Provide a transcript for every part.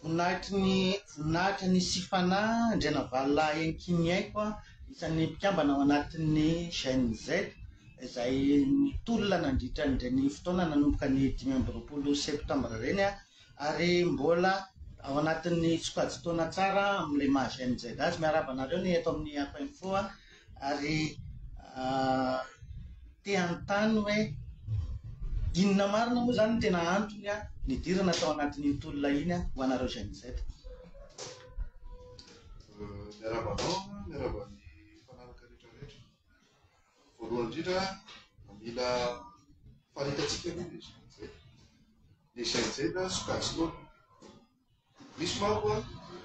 Voninahitry ny voninahitra ny Sifana Andrianavalona Enkinyaiko a, isan'ny mpikambana ao anatin'ny Gen Z, izay nitolona nandritra an'ireny fotoana nanomboka ny dimy amby roapolo septambra ireny a, ary mbola ao anatin'ny sokajin-taona tsara amin'ilay maha Gen Z azy. Miarahaba anareo ny eto amin'ny Ako Info a. Ary te hanontany hoe inona marina moa izany no tena antony nidirana tao anatin'iny tolona iny ho anareo Gen Z? Miarahaba anao, miarahaba ny mpanaraka rehetra rehetra. Voalohany indrindra, mila faritantsika aloha ny Gen Z. Ny Gen Z sokajy taona, Misy manko an,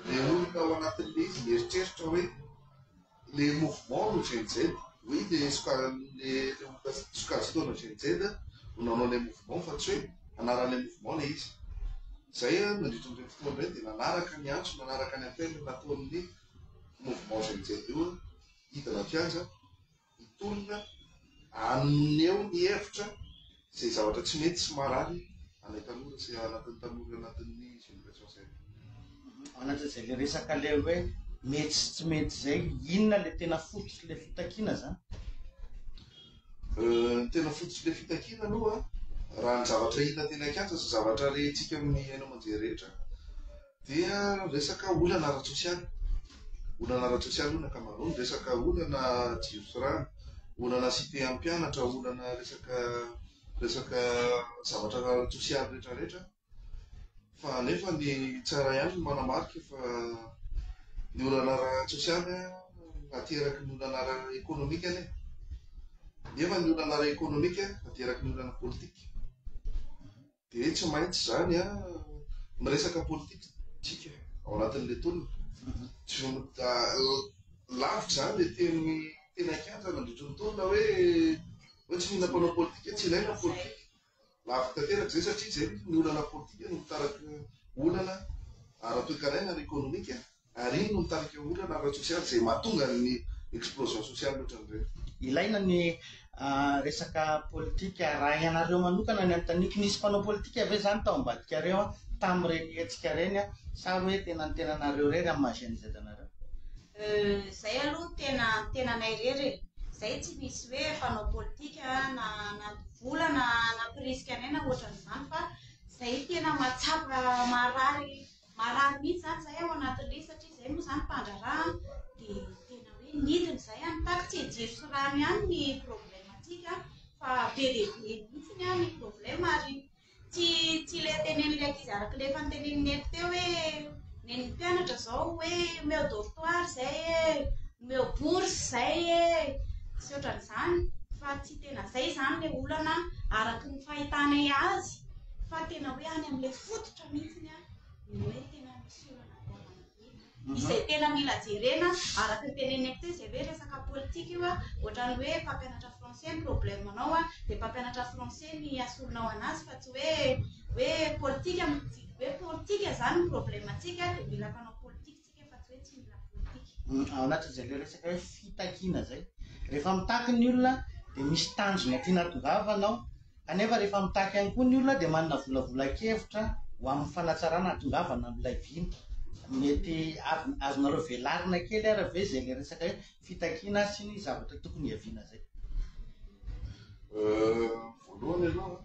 le olona ao anatin'le izy mieritreritra hoe le mouvement no Gen Z, oui le sokaran'le olona sokajiana Gen Z no nanao le mouvement fa tsy hoe anaran'le mouvement le izy. Zay an, nandritra an'ireny fotoana ireny dia nanaraka ny antso, nanaraka ny appel nataon'ny mouvement Gen Z io an, hidina an-kianja. hitolona haneho ny hevitra izay zavatra tsy mety sy marary anay tanora sy anatin'ny tanora anatin'ny génération Z. Mananatra izay le resaka le hoe mety sy tsy mety izay, inona le tena fototry le fitakiana zany? Ny tena fototry le fitakiana aloha raha ny zavatra hita teny an-kianja sy zavatra rehintsika amin'ny haino aman-jery rehetra, Dia resaka olana ara-tsosialy. Olana ara-tsosialy hono ny ankamaroany. Resaka olana jirofirany, olana cité an'ny mpianatra, olana resaka resaka zavatra ara-tsosialy rehetrarehetra. Fa nefa ny tsara ihany ny manamarika fa ny olana ara-tsosialy ateraky ny olana ara-ekonomika anie. Nefa ny olana ara-ekonomika ateraky ny olana politika. Dia tsy maintsy izany an, miresaka politika isika ao anatin'ilay tolona. Lavitra izany ilay teny tena kianja nandritry ny tolona hoe hoe tsy mila mpanao politika, tsy ilaina ny politika. Lavitra tanteraka izay satria izay ny olana politika no mitaraky olana ara-toekarena ara-ekonomika. Ary iny no mitarika ho olana ara-tsosialy izay mahatonga ny explosion sociale ohatran'ireny. Ilaina ny resaka politika. Raha ianareo manokana ny anontaniako, nisy mpanao politika ve izany tao ambadikareo tamin'ireny hetsika ireny sa hoe tena ny tenanareo irery amin'ny maha GNZ anareo? Euh, izay aloha tena ny tenanay irery e! Izay tsy misy hoe mpanao politika na nandoa vola na nampirisika anay na ohatran'izany fa izay tena mahatsapa, maharary. Marary mihitsy izany izahay ao anaty lia satria izay moa izany mpandraharaha dia tena hoe nidina izay any taky tsy jiro sy rano ihany ny problème-ntsika fa be dia be mihitsy ny any problème ary tsy tsy ilay tenenin'ilay ankizy araka ilay efa notenen'i Neny teo hoe Neny mpianatra izao hoe omeo dortoir izay e, omeo bourse izay e, sy ohatran'izany fa tsy tena izay izany ilay olana araka ny fahitanay azy fa tena hoe any amin'ilay fototra. izay tena mila jerena araka ny teneneko teo izay hoe resaka politika io a, ohatran'ny hoe mpampianatra français ny problème anao a, dia mpampianatra français ny asorinao anazy fa tsy hoe hoe politika hoe politika izany ny problème antsika dia mila mpanao politika isika. Ao anatin'izay ilay resaka hoe fitakiana izay. Rehefa mitaky ny olona dia misy tanjona tiana hatongavana ao, kanefa rehefa mitaky ihany koa ny olona dia manana volavolan-kevitra ho amin'ny fanatsarana hatongavana amin'ilay vina. Mety avy- azonareo velarina kely ary ve izay ilay resaka hoe fitakiana sy ny zavatra tokony hiaviana izay? Euh, voalohany aloha,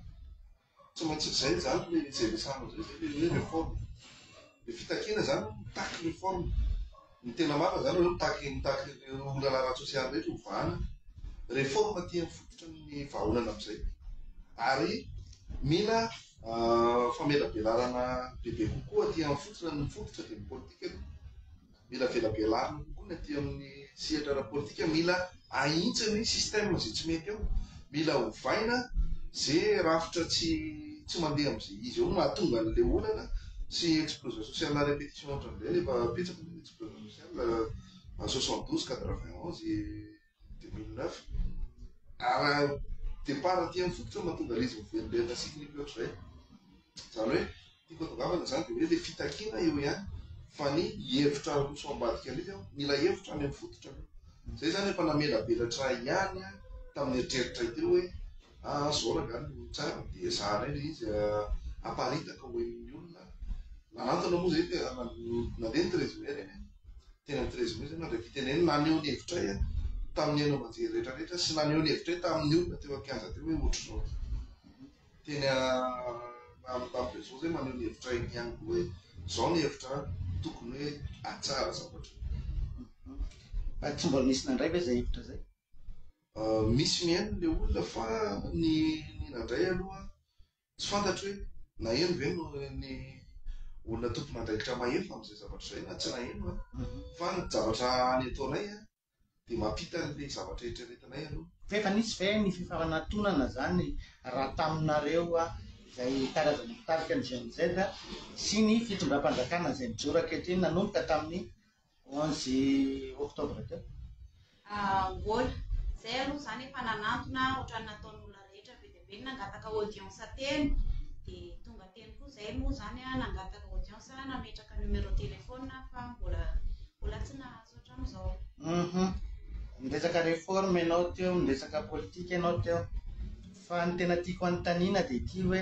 Tsy maintsy izay izany ilay nijery sary amin'izay izay ilay hoe réforme. Ilay fitakiana izany no mitaky réforme. Ny tena marina izany hoe mitaky mitaky ireo olana ara-tsosialy rehetra hovahana. Réforme aty amin'ny fototry ny vahaolana amin'izay. Ary mila famelabelarana bebe kokoa aty amin'ny fototry ny fototra dia ny politika aloha. Mila velabelarina kokoa ny aty amin'ny sehatra ara-politika, mila ahitsy ny système izay tsy mety eo, mila ovaina ze rafitra tsy tsy mandeha amin'izay izy eo no mahatonga an'ilay olana sy explosion sociale à répétition hatramin'izay, efa betsaka ny explosion sociale, soixante douze, quatre vingt onze. deux mille neuf ary départ aty amin'ny fototra no mahatonga an'izy miverimberina sy hikiliky loatra izay. Izany hoe tiako atongavana izany dia hoe ilay fitakiana eo ihany fa ny hevitra aroso ambadika indrindra eo, mila hevitra any amin'ny fototra aloha. Izay izany efa namelabelatra ahy ihany tamin'ny eritreritra ahy teo hoe ah zao raha angaha no tsara dia zara indray ilay izy aparitaka ho henon'ny olona. Nanantona moa izay dia nandeha ny treize mai ireny e. teny amin'ny treize mai zay nandray fitenenana, naneho ny hevitray tamin'ny haino aman-jery rehetra rehetra sy naneho ny hevitray tamin'ny olona teo an-kianja teo hoe ohatr'izao. Teny amin'ny tamin'ny réseau zay maneho ny hevitray ihany koa hoe izao ny hevitra tokony hoe atsara zavatra. Fa tsy mbola nisy nandray ve zay hevitra zay? Misy mihaino le olona fa ny ny nandray aloha Tsy fantatro hoe naheno ve no ny olona tompon'andraikitra maheno amin'izay zavatra izay na tsy naheno an. Fa ny zavatra any ataonay an, dia mampita an'ilay zavatra eritreretinay aloha. F'efa nisy ve ny fifanatonana izany raha taminareo izay karazana mpitarika ny GNZ sy ny fitondram-panjakana izay mijoro ankehitriny nanomboka tamin'ny Onze octobre teo. Angola. Zay aloha zany efa nanantona otrany nataony olona rehetra be dia be nangataka audience teny de tonga teny koa zay moa zany a nangataka audience nametraka numéro téléphone fa mbola mbola tsy nahazo hatramizao. Uhum. Niresaka reforme ianao teo, niresaka politika ianao teo. Fa ny tena tiako anontaniana dia ity hoe,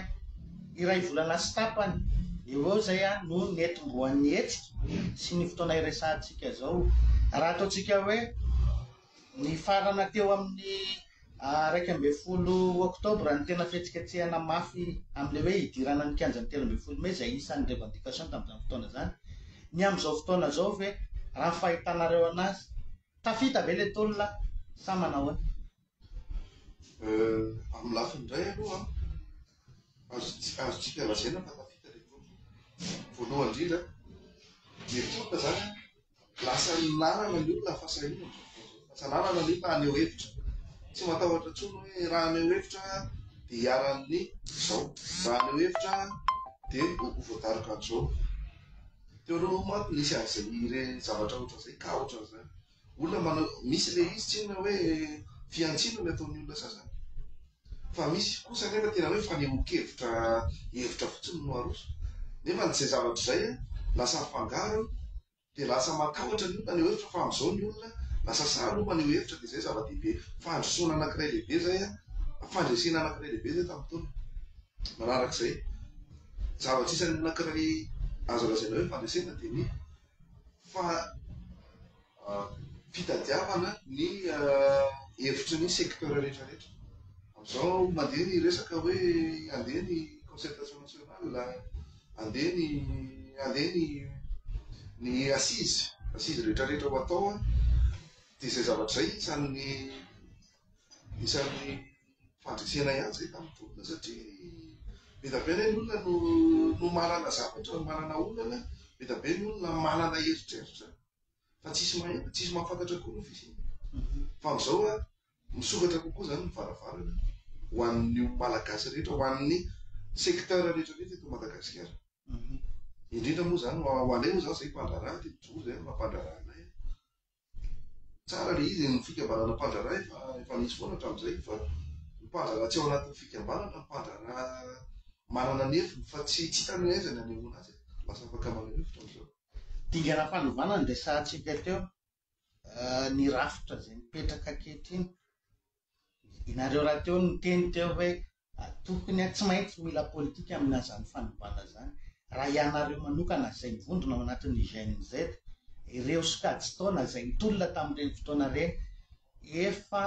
iray volana sy tapany eo eo izay no nihetombohan'ny hetsika sy ny fotoana iresahantsika izao. Raha ataontsika hoe nifarana teo amin'ny iraika ambin'ny folo oktobra ny tena fihetsiketsehana mafy amin'ilay hoe hidirana ny kianjan'ny telo ambin'ny folo mey izay isan'ny revendication tamin'izany fotoana izany. Ny amin'izao fotoana izao ve raha ny fahitanareo anazy, tafita ve ilay tolona sa manao ahoana? Amin'ny lafiny iray aloha azontsika azontsika lazaina fa tafita ilay tolona. Voalohany indrindra, ny tolona izany lasa ny lalana ny olona fa sahirana. Lasa lalana ny olona haneho hevitra. Tsy matahotra intsony hoe raha haneho hevitra dia hiharan'ny izao, raha haneho hevitra dia ho voadaroka an'izao. Teo aloha manko nisy an'izay ireny zavatra ohatran'izay ka ohatran'izany. Olona manao misy ilay izy tsinona hoe fihantsiana no ataon'ny olona sasany. Fa misy kosa anefa tena hoe fanehoan-kevitra hevitra fotsiny no aroso. Nefa izay zavatra izay lasa afangaro dia lasa matahotra ny olona ny hevitra fa amin'izao ny olona lasa sahy aloha maneho hevitra dia izay zava-dehibe. Fandrosoana anankiray lehibe izay, fandresena anankiray lehibe izay tamin'ny fotoana manarak'izay. Zava-trisany anankiray azo lazaina hoe fandresena dia ny Fa fitadiavana ny hevitry ny secteur rehetra rehetra. Amin'izao mandeha ny resaka hoe andeha ny concertation nationale, andeha ny andeha ny ny assises, assises rehetra rehetra ho atao an, dia izay zavatra izay isan'ny isan'ny. fandresena ihany izay tamin'ny tolona satria be dia be anie ny olona no no manana zavatra, no manana olana, be dia be ny olona manana eritreritra fa tsisy mahita, tsisy mahafantatra koa ny ho fisiany. Fa amin'izao a, misokatra kokoa izany ny varavarana ho an'ny Malagasy rehetra, ho an'ny secteur rehetra rehetra eto Madagasikara. Indrindra moa izany ho ho anay moa izany izay mpandraharaha, dia mijoro izay no mampandraharaha anay. Tsara ilay izy ny fikambanana mpandraharaha fa efa nisy foana hatramin'izay fa ny mpandraharaha tsy ao anatin'ny fikambanana no mpandraharaha manana ny heviny fa tsy tsy hitany hoe aiza ny hanehoana azy e. Lasa afaka maneho hevitra amin'izao. Dingana fanovana ny resahantsika teo, ny rafitra izay mipetraka ankehitriny. Ianareo rahateo niteny teo hoe Atokony a, tsy maintsy mila politika amina zany fanovana zany, raha ianareo manokana zay mivondrona ao anatin'ny GNZ, ireo sokajy taona zay nitolona tamin'ireny fotoana ireny efa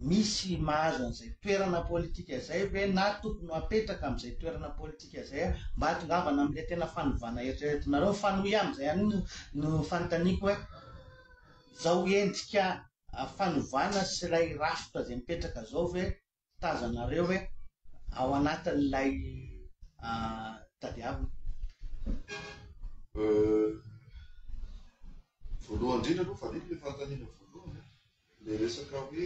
misy mahazo an'izay toerana politika zay ve na tokony ho apetraka amin'izay toerana politika zay a, mba hatongavana amin'ilay tena fanovana eritreretinareo, mifanohy amin'izay ihany no no fanontaniako hoe zao endrika fanovana sy ilay rafitra izay mipetraka izao ve tazanareo e ao anatin'ilay tadiavina? Voalohany indrindra aloha, faniko ilay fanontaniana voalohany, ilay resaka hoe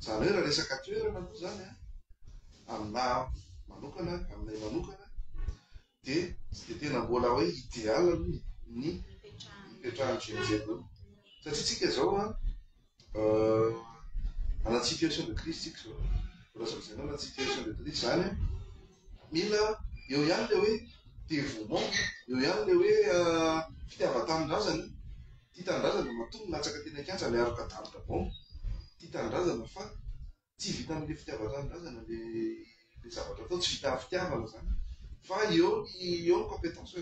Izany hoe raha resaka toerana aloha izany an, aminà manokana, aminay manokana dia tsy dia tena mbola hoe ideal aloha ny ny hipetrahan'ny GNZ aloha. Satria isika izao an, anaty situation de crise isika izao. Voalazan'i Zenona anaty situation de crise izany an. Mila eo ihany ilay hoe dévouement, eo ihany ilay hoe fitiavan-tanindrazana. Tia tanindrazana matoa milatsaka teny an-kianja miaroka daroka baomba. Tia tanindrazana fa tsy vita amin'ilay fitiavan-tanindrazana ilay zavatra atao, tsy vita amin'ny fitiavana izany fa eo ny eo ny compétence.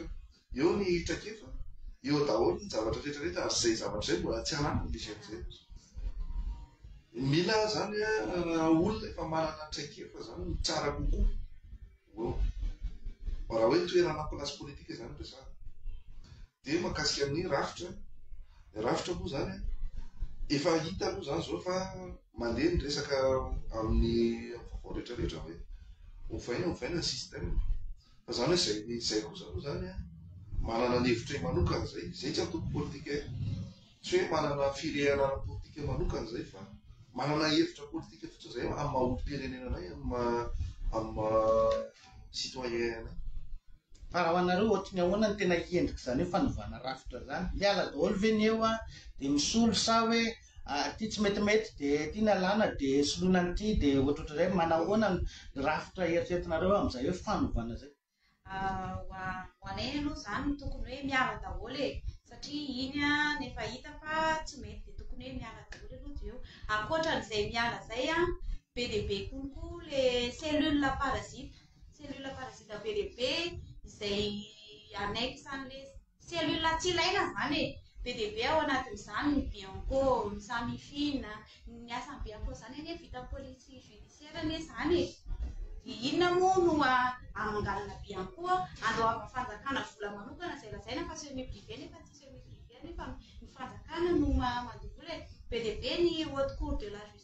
Eo ny traikefa, eo daholo ny zavatra rehetra rehetra ary izay zavatra izay mbola tsy lany ny GMZ. Mila izany raha olona efa manana traikefa izany no tsara kokoa eo. Fa raha hoe toerana place politique izany resahana. Dia mahakasika ny rafitra, ny rafitra moa izany efa hita aloha izany izao fa mandeha ny resaka amin'ny vaovao rehetra rehetra hoe ovaina ovaina ny système. Fa zany hoe zay zay kosa aloha zany an, manana ny hevitray manokana zay, zay tsy antoko politika e, tsy hoe manana firehana ara-politika manokana zay fa manana hevitra politika fotsiny zay amin'ny maha olom-pirenena anay, amin'ny maha amin'ny maha citoyen anay. Fa raha ho anareo ohatry ny ahoana ny tena endrik'izany hoe fanovana rafitra zany? Miala daholo ve ny eo an, dia misolo sa hoe ary ity tsy metimety dia ity ny alàna dia soloina an'ity dia ohatrohatr'izay, manahoana ny rafitra eritreretinareo amin'izay hoe fanovana izay? Ho anay aloha izany tokony hoe miala daholo e, satria iny an efa hita fa tsy mety dia tokony hoe miala daholo aloha avy eo, ankoatran'izay miala izay an, be dia be kokoa ilay cellule parasite, cellule parasite be dia be izay annexe an'ilay. Cellule tsy ilaina izany e! Be dia be ao anatin'izany ny bianco, ny samifina, ny asan'ny bianco izany anie vita police judiciaire anie izany e! Dia inona moa no amanganana bianco andoavan'ny fanjakana vola manokana izay lazaina fa semi privé nefa tsy semi privé anefa ny fanjakana no mandoa vola e! Be dia be ny haute cour de la justice.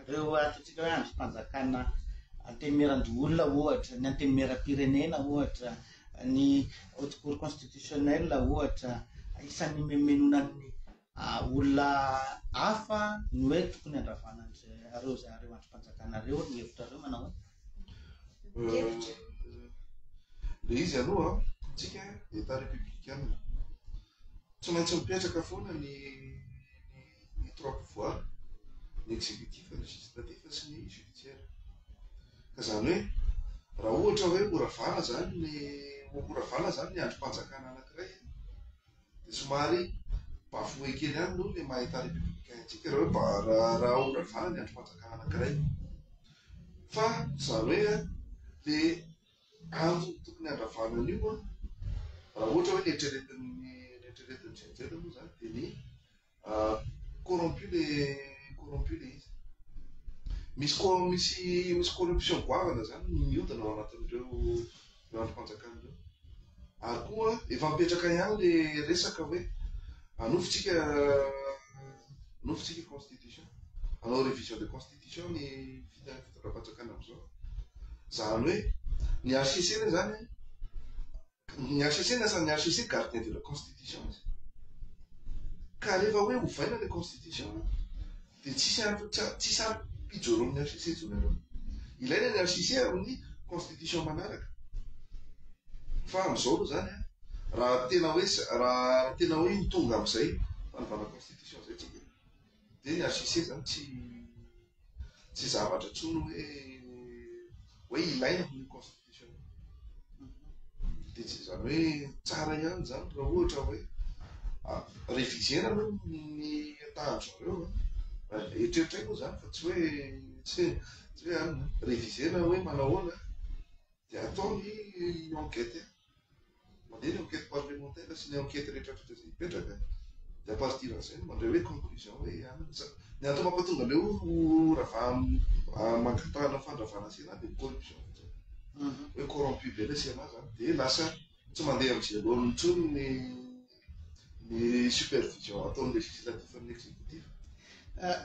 Ireo ataontsika hoe andrim-panjakana antenimieran-doholona ohatra, ny antenimieram-pirenena ohatra, ny Haute Cour Constitutionnelle ohatra, isan'ny nimenomenona ny olona hafa ny hoe tokony handravana an'ireo izay ireo andrim-panjakana ireo, ny hevitrareo manao hoe? Hevitra. Ilay izy aloha an, isika Etat Républicain, tsy maintsy mipetraka foana ny ny. ny trois pouvoirs, ny executif, ny législatif sy ny judiciaire. Ka izany hoe raha ohatra hoe mora vana izany ny mora vana izany ny andrim-panjakana anankiray dia somary bafoué kely ihany aloha ilay maha-État républicain antsika raha hoe raha raha mora vana ny andrim-panjakana anankiray. Fa izany hoe dia kanto no tokony handravana an'io an! Raha ohatra hoe ny eritreretin'ny ny eritreretin'ny GEN-Z moa izany dia ny corrompu ilay corrompu ilay izy. Misy ko misy misy corruption goavana izany mihodina ao anatin'ireo ireo andrim-panjakana ireo. Ary koa efa mipetraka ihany ilay resaka hoe anofintsika anofintsika constitution, hanao révision de constitution. Diso ny fiteny fitondram-panjakana amin'izao. Izany hoe ny HCC aloha izany, ny HCC ny asan'ny HCC gardien de la constitution izy. Ka rehefa hoe ovaina ilay constitution dia tsisy any tsisy any ijoroan'ny HCC intsony aloha. Ilaina ny HCC amin'ny constitution manaraka. Fa amin'izao aloha izany raha tena hoe raha tena hoe ny tonga amin'izay fanovana constitution izay tsy Dia ny HCC izany tsy tsy zavatra intsony hoe hoe ilaina ny constitution. Dia tsy izany hoe tsara ihany izany raha ohatra hoe ah, réviser aloha ny tahany zareo. Eritreritray moa izany fa tsy hoe tsy hoe ah, réviser hoe manahoana dia atao ny enquête. Mandeha ny enquête parlementaire sy ny enquête rehetra rehetra izay hipetraka dia à partir an'izay no mandray hoe conclusion hoe anona ny zavatra. Ny antony mampatonga an'ilay hoe ravaha mangatahana fandravana CNA dia corruption fotsiny. Hoe corrompu be ilay CNA izany dia lasa tsy mandeha amin'i Jalony intsony ny ny supervision ataon'ny législatif amin'ny executif.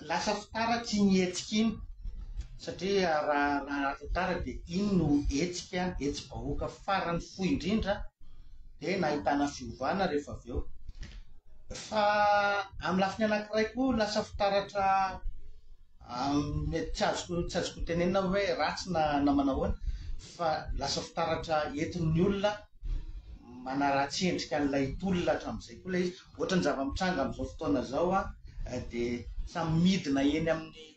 Lasa fitaratsy iny hetsika iny satria raha raha tara dia iny no hetsika hetsi-bahoaka farany fohy indrindra dia nahitana fiovana rehefa avy eo. Fa amin'ny lafiny anankiray koa lasa fitaratra tsy azoko tsy azoko tenenina hoe ratsy na na manahoana fa lasa fitaratra entin'ny olona manaratsy endrika an'ilay tolona hatramin'izay koa ilay izy. Ohatran'ny zava-mitranga amin'izao fotoana izao dia samy midina eny amin'ny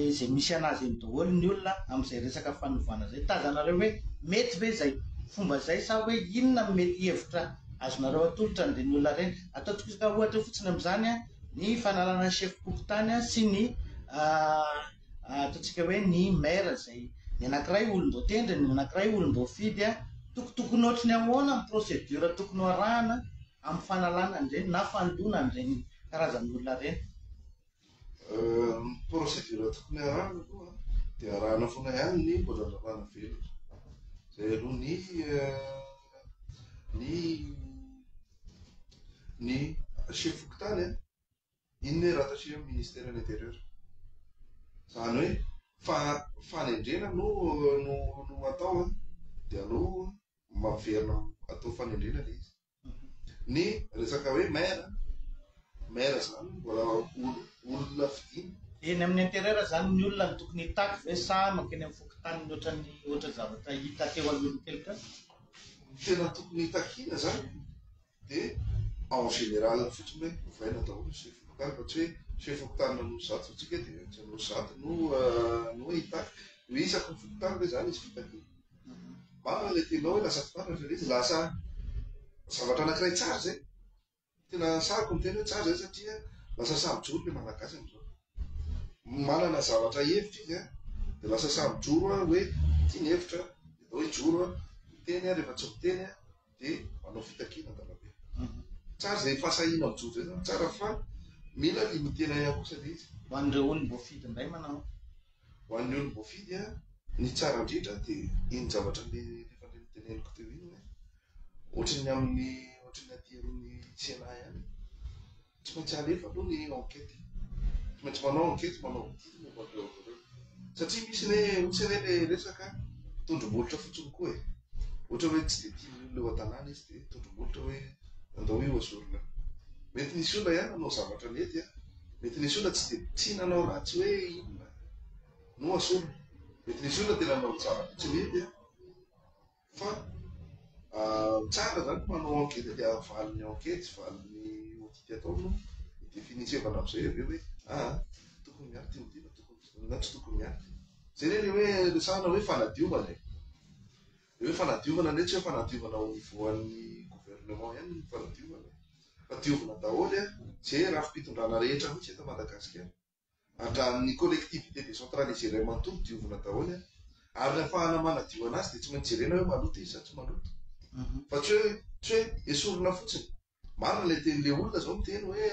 izay misy an'azy eny daholo ny olona amin'izay resaka fanovana izay. Tazanareo hoe mety ve izay fomba izay sa hoe inona no mety hevitra azonareo atolotra an'ireny olona ireny? Ataontsika ohatra fotsiny amin'izany ny fanalana ny sefom-pokontany sy ny ataontsika hoe ny maire izay ny anankiray olom-boatendry, ny anankiray olom-boafidy, tokotokony ohatry ny ahoana ny procédure tokony ho arahana amin'ny fanalana an'ireny na fandona an'ireny karazan'olona ireny? Ny procédure tokony arahana aloha dia arahana foana ihany ny mbola lalàna velona, izay aloha ny ny ny chef fokontany an, Inona e rattacher am ministeran interieur? Zany hoe fa fanendrena no no no atao an de aleo maverina atao fanendrena le izy. Ny resaka hoe maire an, maire zany mbola olo olona fidina. Eny amin'ny interieur zany ny olona no tokony hitaky ve sa mankeny amin'ny fokontany ny ohatran'ny ohatra zavatra hita teo alohan'ny keloka? Tena tokony hitakiana zany. Dia en général fotsiny hoe ovaina daholo ny chef fokontany fa tsy hoe chef fokontany nanao zato fa tsika dia tsy hanao zato no no hitaky no isaky ny fokontany ve zany izy fitakiana marina ilay tianao hoe lasa fitaratra fa ilay izy lasa zavatra anankiray tsara zay tena sahiko ny teny hoe tsara zay satria lasa samy joro ilay malagasy amin'izao manana zavatra hevitra izy an dia lasa samy joro an hoe ity ny hevitra dia atao hoe joro an miteny an rehefa tsy miteny an dia manao fitakiana an-dalambe. Tsara izay fahasahiana mijoro izay zany tsara fa mila ny miteny ahiahy kosa ilay izy. Ho an'ireo ony voafidy indray manao. Ho an'ny ony voafidy a, ny tsara indrindra dia iny zavatra le efa le noteneniko teo iny hoe ohatry ny amin'ny ohatry ny aty amin'ny Sénat ihany. Tsy maintsy alefa aloha ny enquête e. Tsy maintsy manao enquête, manao audit momba an'ireo avy ireo. Satria misy anie, misy anie le resaka tondrombohitra fotsiny koa e. Ohatra hoe tsy dia tian'ny olona eo an-tanàna izy dia tondrombohitra hoe andao io hozorina. Mety nisy olona ihany nanao zavatra nety a. Mety nisy olona tsy dia tsy nanao ratsy hoe inona no hasorina. Mety nisy olona tena nanao zavatra tsy nety a. Fa tsara zany manao ankety dia valiny ankety valiny audit atao no définissevana amizay avy eo hoe ah tokony miato ty audit na tokony tsy na tsy tokony miato ty. Zay ne le hoe resahana hoe fanadiovana e. Le hoe fanadiovana ndray tsy hoe fanadiovana au niveau an'ny gouvernement ihany ny fanadiovana fa diovina daholo e, ze rafi-pitondrana rehetra mihitsy eto Madagasikara. Andraan'ny collectivité décentralisée-ilay manontolo diovina daholo an! Ary ny afahana manadio anazy dia tsy maintsy jerena hoe maloto izy sa tsy maloto. Fa tsy hoe, tsy hoe esorina fotsiny. Marina ilay teny, ilay olona izao miteny hoe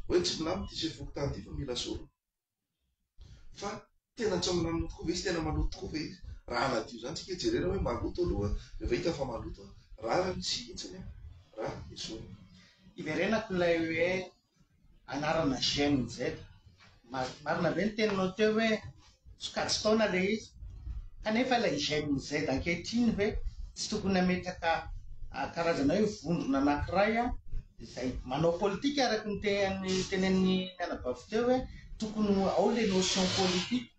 hoe tsy milamina ity sefokontany ity fa mila sorona. Fa tena tsy milamina tokoa ve izy, tena maloto tokoa ve izy? Raha hanadio izany tsika jerena hoe maloto aloha, rehefa hita fa maloto, rariny sy hitsiny an! Raha esorina. Iverenako ilay hoe anarana Gen Z. Marina be ny teninao teo hoe sokajin-taona ilay izy, kanefa ilay Gen Z ankehitriny ve tsy tokony hametraka karazana hoe vondrona anankiray izay manao politika araka ny tenenin'ny anabavy teo hoe tokony ao ilay notion politique.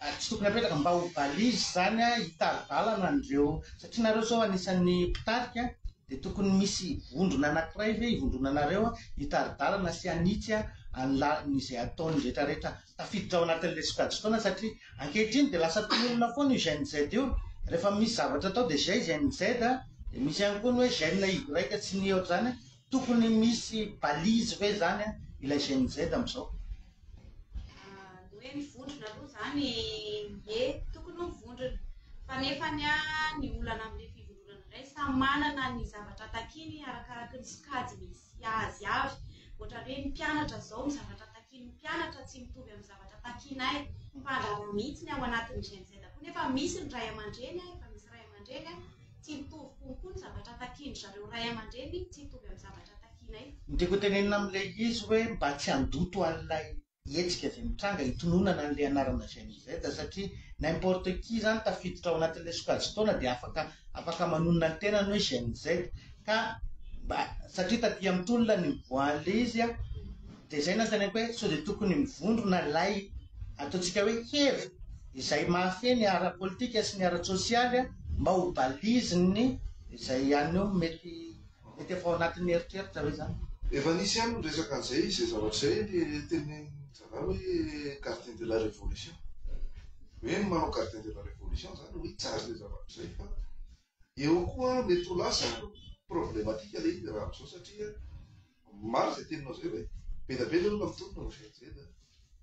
ary tsy tokony apetraka mba ho balise izany an, hitari-dalana an'ireo, satria nareo izao anisan'ny mpitarika dia tokony misy vondrona anankiray ve hivondrona anareo hitari-dalana sy hanitsy an an'i lalina izay ataony rehetra rehetra tafiditra ao anatin'ilay sokajin-taona satria ankehitriny dia lasa mpinolona foana io GNZ io rehefa misy zavatra atao dia GNZ dia misy ihany koa ny hoe GNY tsy ny ohatr'izany Tokony misy balise ve zany an ilay Gen Z amzao? Ny hoe mivondrona aloha izany ie tokony ho mivondrona fa nefany an ny olana amin'ny fivondronana indray samy manana ny zavatra takiany arakaraky ny sokajy misy azy avy ohatra hoe ny mpianatra izao ny zavatra takian'ny mpianatra tsy mitovy amin'ny zavatra takianay mpandraharaha mihitsy ny ao anatin'ny Gen Z koa nefa misy ny ray aman-dreny an efa misy ray aman-dreny an Tsy mitovy kokoa ny zavatra takian-dry zareo ray aman-dreny tsy hitovy amin'ny zavatra takianay. Ny tiako hotenenina amin'ilay izy hoe mba tsy handoto an'ilay hetsika izay mitranga hitononana an'ilay anarana Gen Z satria n'importe qui izany tafiditra ao anatin'ilay sokajin-taona dia afaka afaka manonona ny tenany hoe Gen Z ka mba satria taty amin'ny tolona no nivoahan'ilay izy an! Dia izay nanontaniako hoe sao dia tokony mivondrona ilay ataontsika hoe hery izay mahafehy ny ara-politika sy ny ara-tsosialy mba ho balise ny izay any eo mety mety efa ao anatin'ny eritreritra ve izany? Efa nisy ihany ny resaka an'izay, izay zavatra izay ilay tenin-dRaharaha hoe gardien de la révolution. Hoe ny manao gardien de la révolution izany hoe hijaly izay zavatra izay fa. Eo koa mety ho lasa problematika ilay izy raha amin'izao satria marina izay teninao izay hoe be dia be ilay olona mitonona ho GNZ a.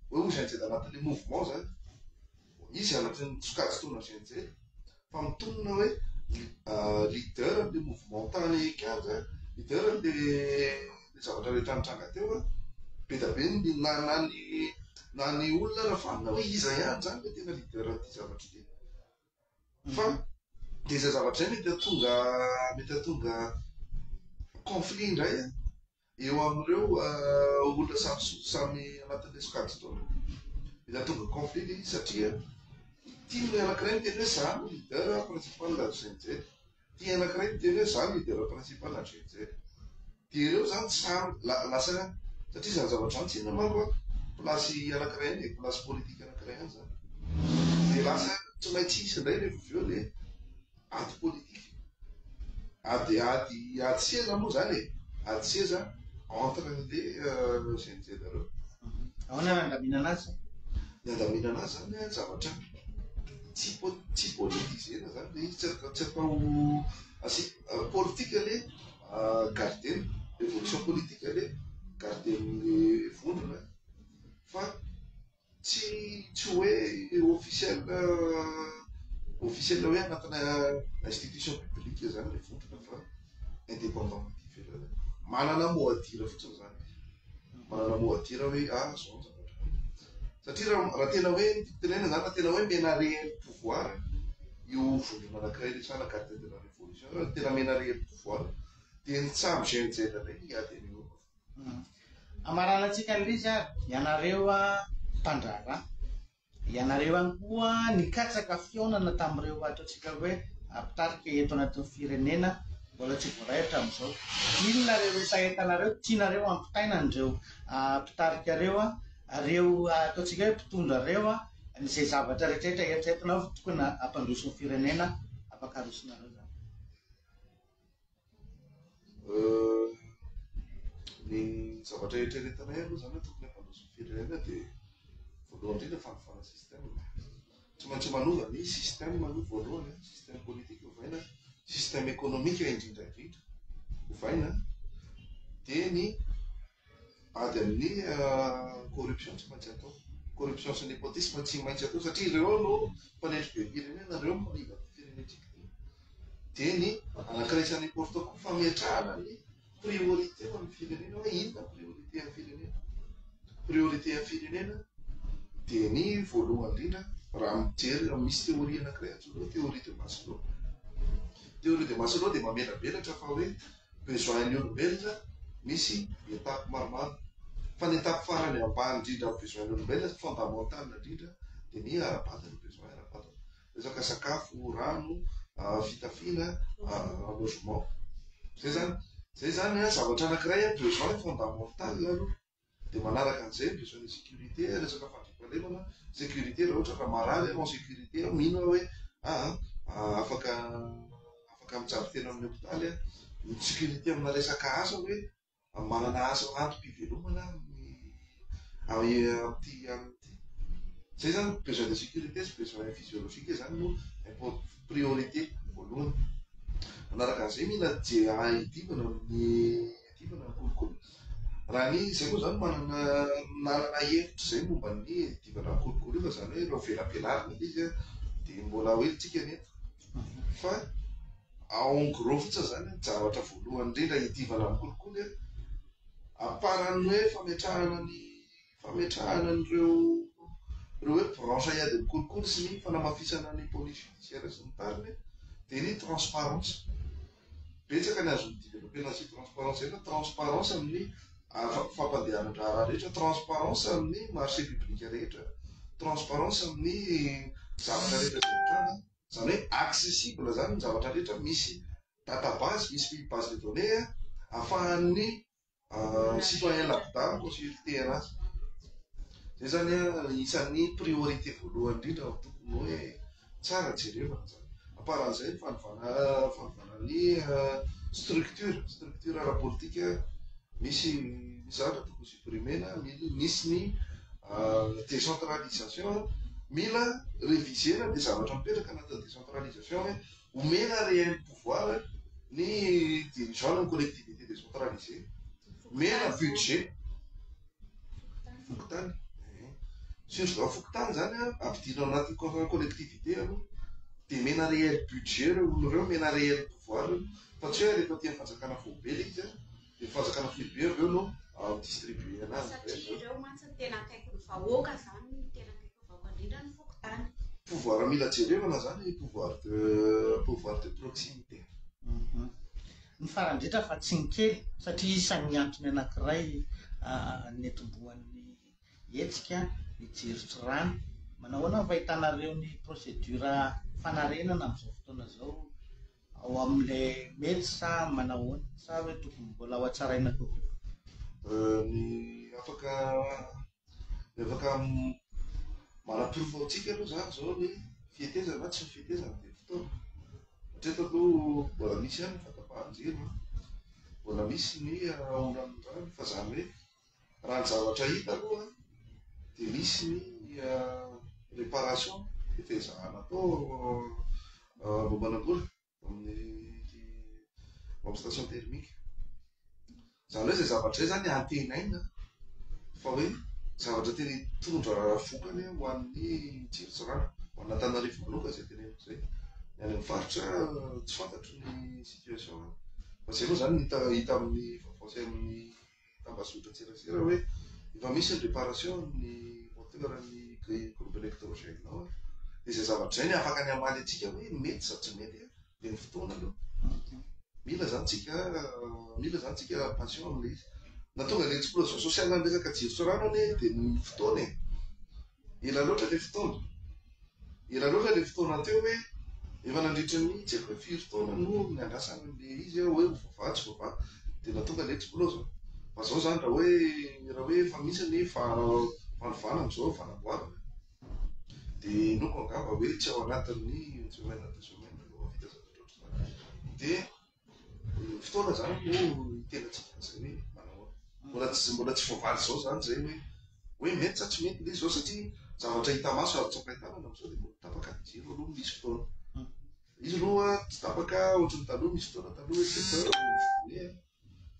Hoe ho GNZ anatin'ilay mouvement izany. Izy anatin'ny sokajin-taona GNZ fa mitonona hoe leader an'ilay mouvement tany Kianja, leader an'ilay zavatra rehetra nitranga teo a. Be dia be ny na na ny na ny olona raha vanona hoe iza ihany izany ilay tena leader an'ity zavatra ity. fa dia izay zavatra izay mety hahatonga mety hahatonga conflit indray an, eo amin'ireo olona samy samy anatin'ilay sokajy taona. Mety hahatonga conflit ilay izy satria ity olona anankiray miteny hoe izaho no leader principal avy izay avy izay. Ty anakiray miteny hoe za midera principe na drenjere. Dia ireo zany tsy sahy la- lasa ihany. Satria zany zavatra zany tsy inona manko an, place anakiray ihany e, place politique anakiray ihany zany. Dia lasa tsy maintsy hisy indray rehefa avy eo le ady politique. Ady, ady, ady seza moa zany e. Ady seza entre an'le GNZ reo. Ahoana no handaminana azy? Ny handaminana azy zany an, zavatra tsy tsy politiser-na zany le izy, tsy atao asi politika le garder-ny, revolution politika le garder-ny vondrona fa tsy tsy hoe officiel officiel hoe anatina institution publique zany le vondrona fa. indépendant ity firenena ity. Manana mot à dire fotsiny izany. Manana mot à dire hoe ah zao ny zavatra. Satria raha raha tena hoe tenenina izany raha tena hoe mena réel pouvoir io vondrona anankiray rehetra na garde de la révolution raha tena mena réel pouvoir dia ny tsaha mi-GNZ indray ny hiady an'io avao. Amarana antsika an'izy ary ianareo ah, mpandraharaha. Ianareo ihany koa nikatsaka fihaonana tamin'ireo ataontsika hoe mpitarika eto anatin'ny firenena mbola tsy voaray hatramin'izao. Inona ireo resahentanareo tianareo hampitaina an'ireo mpitarika ireo, ireo ataontsika hoe mpitondra ireo, izay zavatra rehetrarehetra eritreretinao fa tokony hampandroso ny firenena, afaka arosonareo izany. Ny zavatra eritreretinay aloha zany tokony hampandroso ny firenena dia voalohany indrindra fanofana système. Tsy maintsy manova ny système aloha voalohany, système politique ovaina, système économique indrindra indrindra ovaina dia ny Ady amin'ny corruption tsy maintsy atao. Corruption sy népotisme tsy maintsy atao satria ireo no mpanetry be firenena, ireo no mpanimba ny firenentsika. Dia ny anankiray isan'ny important koa fametrahana ny priorité ho an'ny firenena hoe inona priorité an'ny firenena. Priorité an'ny firenena dia ny voalohany indrindra raha mijery raha misy théorie anankiray antsoina hoe théorie de Maslow. Théorie de Maslow dia mamelabelatra fa hoe besoin ny olombelona misy étape maromaro fa ny étape farany ambany indrindra amin'ny besoin ny olombelona fondamental indrindra dia ny ara-bady ny besoin ara-bady resaka sakafo rano ah, fitafiana ah, logement zay zany zay zany a zavatra anankiray a besoin fondamental aloha Dia manaraka an'izay ny besoin ny sécurité, resaka fandriampahalemana, sécurité raha ohatra ka marary ianao en sécurité aho mino aho hoe aa afaka afaka mijary tena amin'ny hôpitaly aho. Ny sécurité amina resaka asa hoe manana asa antom-pivelomana amin'ny amin'ity amin'ity. Izay izany besoin de sécurité sy besoin physiologique izany no import priorité voalohany. Manaraka an'izay mila je ahidimbana amin'ny. Diovina ny kolikoly. Raha ny izay moa izany manana manana hevitra izay momba ny diovina ny kolikoly io fa izany hoe raha velabelarina ilay izy dia mbola ho entintsika ny eto. Fa en gros fotsiny izany ny zavatra voalohany indrindra hidiovana ny kolikoly a, amparan'ny hoe fametrahana ny fametrahana an'ireo ireo hoe branche à aides mikolokolo sy ny fanamafisana ny police judiciaire sy ny tariny dia ny transparence. Betsaka ny azon'ny developpena azy transparence izay fa transparence amin'ny fampandehanan-draharaha rehetra, transparence amin'ny marché public rehetra, transparence amin'ny zavatra rehetra izay mitranga. Izany hoe accessible izany ny zavatra rehetra, misy database, misy base de données ahafahan'ny Euh, citoyen lambda no consultera azy zay zany a isan'ny priorité voalohany indrindra ny tokony hoe tsara jerevana zany amparan'izay ny fanovana fanovana ny euh, structure structure arapolitika misy misy zavatra tokony supprimena misy ny euh, décentralisation mila révisena le zavatra mipetraka anatin'ny décentralisation hoe Omena réel pouvoir ny dirigeant ny collectivité décentralisé. Omena budget. Fokontany. Sinjovao fokontany izany an, ampidino ao anatin'ny contrat collectivité aloha. Dia omena réel budget ireo olona ireo, omena réel pouvoir ireo. Fa tsy hoe alefa aty amin'ny fanjakana foibe ilay izy an. Dia fanjakana foibe avy eo no mi-distribuer anazy. Satria ireo mantsy no tena akaiky ny vahoaka, izany no tena akaiky ny vahoaka indrindra ny fokontany. Pouvoir mila jerevana izany, pouvoir de pouvoir de proximité. Ny farany indrindra fa tsy ny kely, satria isan'ny antony anankiray nitomboan'ny hetsika ny jeritry rano. Manahoana ny fahitanareo ny procédure fanarenana amin'izao fotoana izao Ao amle mety sa manahoana? Sa hoe tokony mbola ho hatsaraina kokoa? Ny afaka ny afaka manaporofo amintsika aloha izany izao ny fihetezana na tsy ny fihetezana dia ny fotoana. Hatreto aloha mbola misy ihany ny fahatapahan-jiro, mbola misy ny olan'ny rano fa izany hoe Raha ny zavatra hita aloha dia misy ny réparation efa ezahana atao amboamanambola amin'ny amin'ny station thermique. Izany hoe izay zavatra izay izany antenaina fa hoe zavatra tena hitondra vokany ho an'ny jiro sy rano, ho an'Antananarivo manokana izay teneniko izay. Ny any amin'ny faritra tsy fantatro ny situation any. Fa izay aloha izany no hita hita amin'ny vaovao sy amin'ny. tambazotran-tserasera hoe efa misy ny réparation amin'ny moteur ny grille groupe électrogène nao a, dia izay zavatra izay no afaka ny hamaly antsika hoe mety sa tsy mety a, dia ny fotoana aloha mila izany tsika mila izany tsika patient amin'ilay izy, na tonga ny explosion sociale ny resaka jiro sy rano anie dia ny fotoana e. Ela loatra ilay fotoana. Ela loatra ilay fotoana teo hoe efa nandritra ny tsy haiko hoe firy taona no niandrasana an'ilay izy aho hoe ho vava tsy vava dia mba tonga ilay explose. Fa izao izany raha hoe raha hoe efa misy ny fanovana amin'izao fanamboarana dia inoako angamba hoe tsy ao anatin'ny une semaine à deux semaines no ho vita zavatra ohatr'izany. Dia fotoana zany no tena tsy vita zay hoe manao mbola tsy mbola tsy voavaly zao zany zay hoe hoe mety sa tsy mety le zao satria zavatra hita maso azo tsapain-tanana am'zao de mbola tapaka ny jiro aloha misy fotoana izy aloha tsy tapaka ohatry ny taloha misy fotoana taloha hoe sept heures no misy voe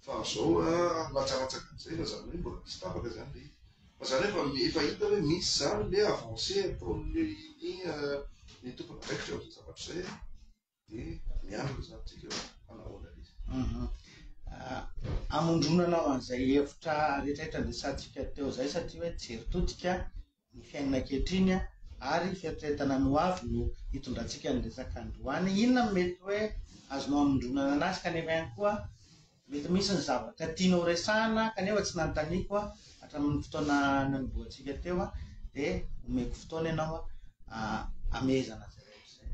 fa am'zao a latsalatsaka am'zay fa zany hoe mbola misy tapaka zany le fa zany efa efa hita hoe misy zany le avancé ataon'ny ny tompon'andraikitra am'zay zavatra zay dia miandry ny zanatsika hoe hanao ahoana ilay izy. Mhm. Ah, amondronana ao an'izay hevitra rehetrarehetra niresantsika teo izay satria hoe jery todika ny fiainana ankehitriny a, ary fieritreretana ny ho avy no hitondrantsika ny resaka androany. Inona no mety hoe azonao amondronana anazy kanefa ihany koa Mety misy ny zavatra tianao resahina kanefa tsy nanontaniako hatramin'ny fotoana nanombohantsika teo dia omeko fotoana ianao hamehezana izay rehetra izay.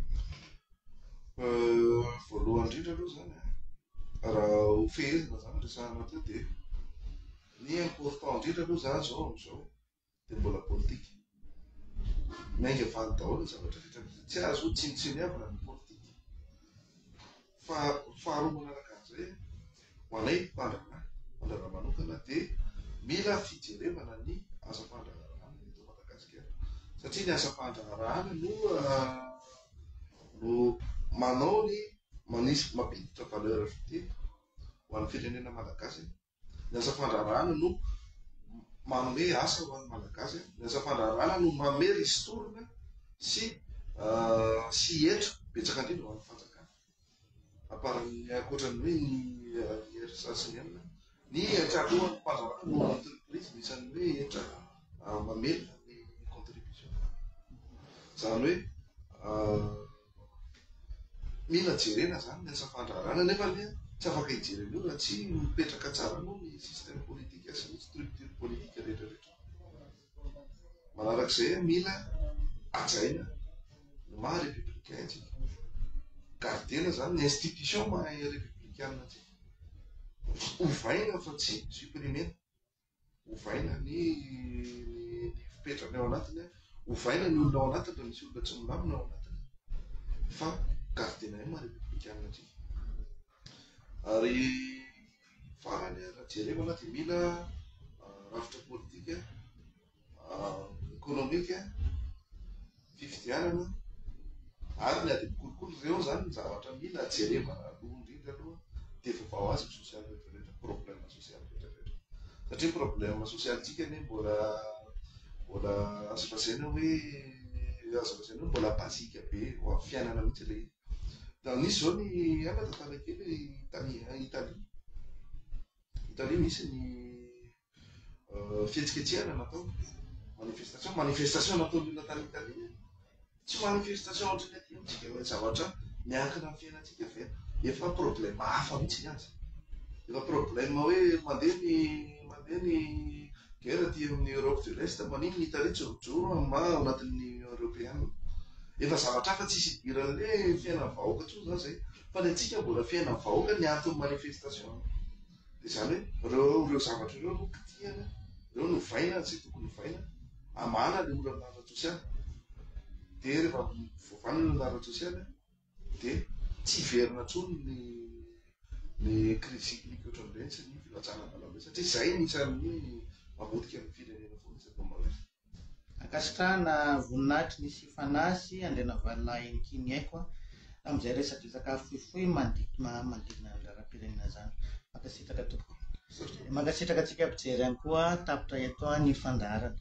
Voalohany indrindra aloha izany raha ho fehezina izany resahana teo dia ny important indrindra aloha za zao amin'izao dia mbola politika. Miainga valy daholo ny zavatra rehetra. Tsy azo tsinotsiniavina ny politika. Fa faharoa manaraka an'izay, ho anay mpandraharaha, mpandraharaha manokana dia mila fijerevana ny asa fandraharahana eto Madagasikara. Satria ny asa fandraharahana no ah, no manao ny manisy mampiditra valeur ajoutée ho an'ny firenena malagasy. Ny asa fandraharahana no manome asa ho an'ny Malagasy. Ny asa fandraharahana no mamely hisintorina sy sy hetra betsaka indrindra ho an'ny fanjakana. Aparan'ny ankoatran'ny hoe ny IRSA sy ny inona, ny hetra alohan'ny fandraharahana no entreprise no isan'ny hoe hetra mamely ny contribution. Izany hoe. Mila jerena izany ny asa fandraharahana nefa anie tsy afaka hijery an'io raha tsy mipetraka tsara aloha ny système politique sy ny structure politique rehetra rehetra. Manarak'izay mila hajaina ny maha républicain antsika. Gardena izany ny institution maha républicain antsika. Ovaina fa tsy supprimer. ovaina ny fipetrany ao anatiny a, ovaina ny olona ao anatiny raha misy olona tsy milamina ao anatiny, fa gardien io maha repoblikanina antsika. Ary farany a, raha jerena dia mila rafitra politika. ekonomika, fifidianana, ary ny adidy kolikoly, ireo izany ny zavatra mila jerevana aloha indrindra aloha, dia vao vao azy ny sosialy rehetra rehetra, problema sosialy rehetra rehetra. Satria problema sosialintsika anie mbola mbola azo lazaina hoe azo lazaina hoe mbola basique be ho amin'ny fiainana mihitsy ilay izy. Dia nisy izao ny aina tantara kely Italie, Italie. Italie misy ny fihetsiketsehana natao manifestation manifestation nataon'ny olona tany tany tsy manifestation ohatrany aty amintsika hoe zavatra miankina amin'ny fiainantsika ve efa problème hafa mihitsy ny azy efa problème hoe mandeha ny mandeha ny guerre aty amin'ny Europe de l'Est maniny ny Italie tsy mijoro ma ao anatin'ny Union Européenne efa zavatra hafa tsisy idiran'le fiainan'ny vahoaka intsony zany zay fa ny antsika mbola fiainan'ny vahoaka ny antony manifestation Dia izany hoe ireo ireo zavatra ireo no kitihana, ireo no vaina izay tokony ho vaina, amahana ilay olana ara-tsosialy. Dia rehefa voavaina ilay olana ara-tsosialy, dia tsy hiverina intsony ny ny crise cyclique ohatran'ireny sy ny filajana am-balam-be, satria izay no isan'ny hoe mamotika ny firenena foana isan'ny mamalefo. Ankasitrahana voninahitry ny sy fanahy sy andrianavalolahin'i King Aiko an, tamin'izay resadresaka fohifohy manodidina ny raharaham-pirenena izany. Mankasitraka tompoko. Dia mankasitraka antsika mpijery ihany koa tapitra eto ny fandaharana.